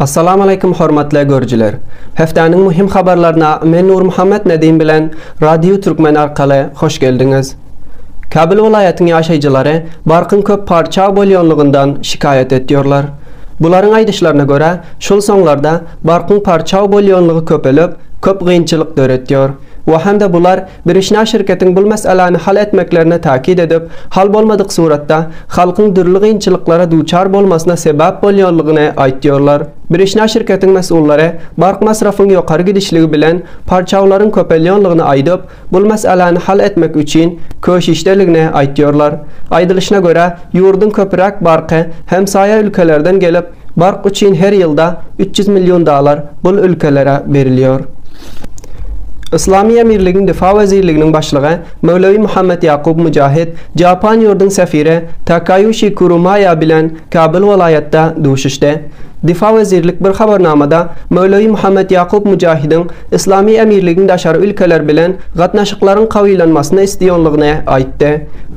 Assalamu Aleýkum hormatly görüjiler! Hepdäniň möhüm habarlaryna men Nurmuhammet Nedim bilen Radio Türkmen arkaly hoş geldiňiz. Kabul welaýatyň ýaşaýjylary barkyň köp parça bolýanlygyndan şikaýat etýorlar. Bularyň aýdyşlaryna görä, şul soňlarda barkyň parça bolýanlygy köpelip, köp gynçylyk döretýor we hem-de bular Birişna şirketiň bul meseläni hal etmeklerine täkit edip, hal bolmadyk suratda, halkyň dürli gynçylyklara duçar bolmasyna sebäp bolýanlygyny aýtýarlar. Birişna şirketiň mesullary bark masrafyň ýokary gidişligi bilen parçawlaryň köpelýänligini aýdyp, bul meseläni hal etmek üçin köşişdeligini aýtýarlar. Aýdylyşyna görä, ýurduň köpüräk barky hemsaýa ülkelerden gelip, Bark üçin her ýylda üç ýüz million dalar bul ülkelere berilýor. Yslamy Emirligiň Difa wezirliginiň başlygy Möwlewi Muhammet Ýakup Mujahid Japan ýurduň sefiri Takaýuşi Kurumaýa bilen Kabul welaýatda duşuşdy. Difa wezirlik bir habarnamada Möwlewi Muhammet Ýakup Mujahidiň Yslamy Emirligiň daşary ülkeler bilen gatnaşyklaryň kawylanmasyny isleýonlygyny aýtdy.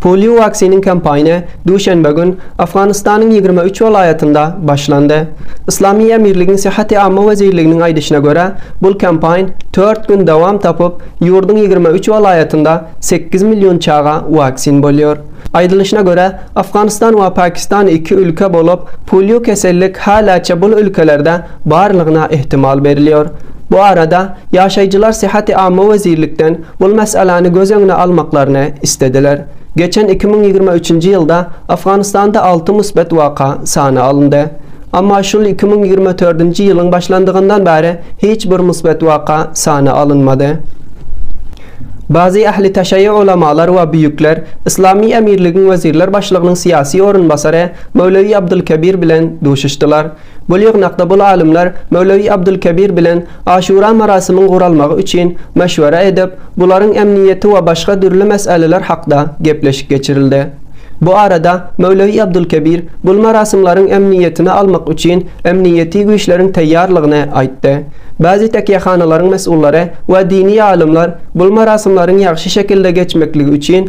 Polio Vaccine kampaniýa duşenbe gün Afganystanyň ýigrimi üç welaýatynda başlandy. Yslamy Emirligiň Syhhaty Amma wezirliginiň aýdyşyna görä, bul kampaýn tört gün dowam tapyp, ýurduň ýigrimi üç welaýatynda sekiz million çaga waksin bolýar. Aýdylyşyna görä, Afganystan we Pakistan iki ülke bolup, polio kesellik häläçe bul ülkelerde barlygyna ähtimal berilýär. Bu arada, ýaşaýjylar Syhhaty Amma wezirlikden Bul meselani göz öňüne almaklaryny islediler. Geçen iki müň ýigrimi üçünji ýylda Afganistanda alty musbet waka sana alyndy. Amma şul iki müň ýigrimi dördünji ýylyň başlandygyndan bäri hiç bir musbet waka sana alynmady. Bazy ähli taşaýy ulamalar we büýükler Yslamy emirligiň wezirler başlygynyň syýasy orunbasary Möwlewi Abdulkebir bilen duşuşdylar. Bu ýygnakda bul alymlar Möwlewi Abdulkebir bilen Aşura marasymyň guralmagy üçin meşwere edip, bularyň emniýeti we başga dürli meseleler hakda gepleşik geçirildi. Bu arada Möwlewi Abdulkebir bul marasymlaryň emniýetini almak üçin emniýeti güýçleriň taýýarlygyny aýtdy. Bazi takýahanalaryň mesullary we dini alymlar bul marasymlaryň ýagşy şekilde geçmekligi üçin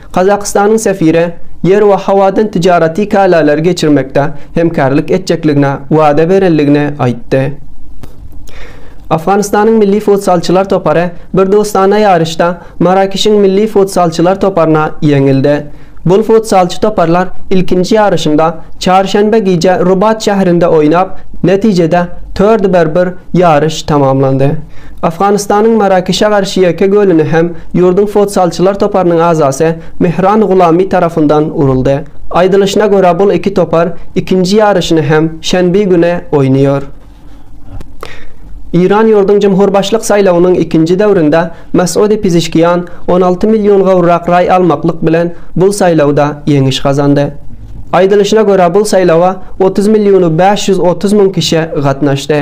Gazagystanyň sefire ýer we howadan tijaraty kälalary geçirmekde hemkärlik etjekligine wada berenligini aýtdy. Afganystanyň milli futsalçylar topary bir dostana ýaryşda Marakeşiň milli futsalçylar toparyna ýeňildi. Bul futsalçy toparlar ilkinji ýaryşynda çarşenbe gije Rubat şährinde oýnap, netijede tördi bir bir Ýaryş tamamlandy. Afganystanyň Marakişe garşy ýeke golüni hem ýurduň futsalçylar toparynyň agzasy Mehran Gulami tarapyndan uruldy. Aýdylyşyna görä bul iki topar ikinji ýaryşyny hem şenbi güne oýnaýar. Eýran ýurduň jumhurbaşlyk saýlawynyň ikinji döwründe Masudi Pizişkian on alty million gowrak raý almaklyk bilen bul saýlawda ýeňiş gazandy. Aýdylyşyna görä, bul saýlawa otuz millionu bäş ýüz otuz müň kişe gatnaşdy.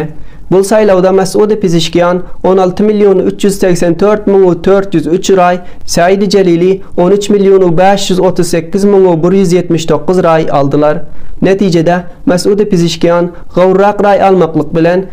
Bul saýlawda Mesudi Pizişkian on alty millionu üç ýüz segsen dört müňu dört ýüz üç raý, Säidi Jelili on üç millionu bäş ýüz otuz sekiz müňu bir ýüz ýetmiş dokuz raý aldylar. Netijede, Mesudi Pizişkian gowrurak raý almaklyk bilen,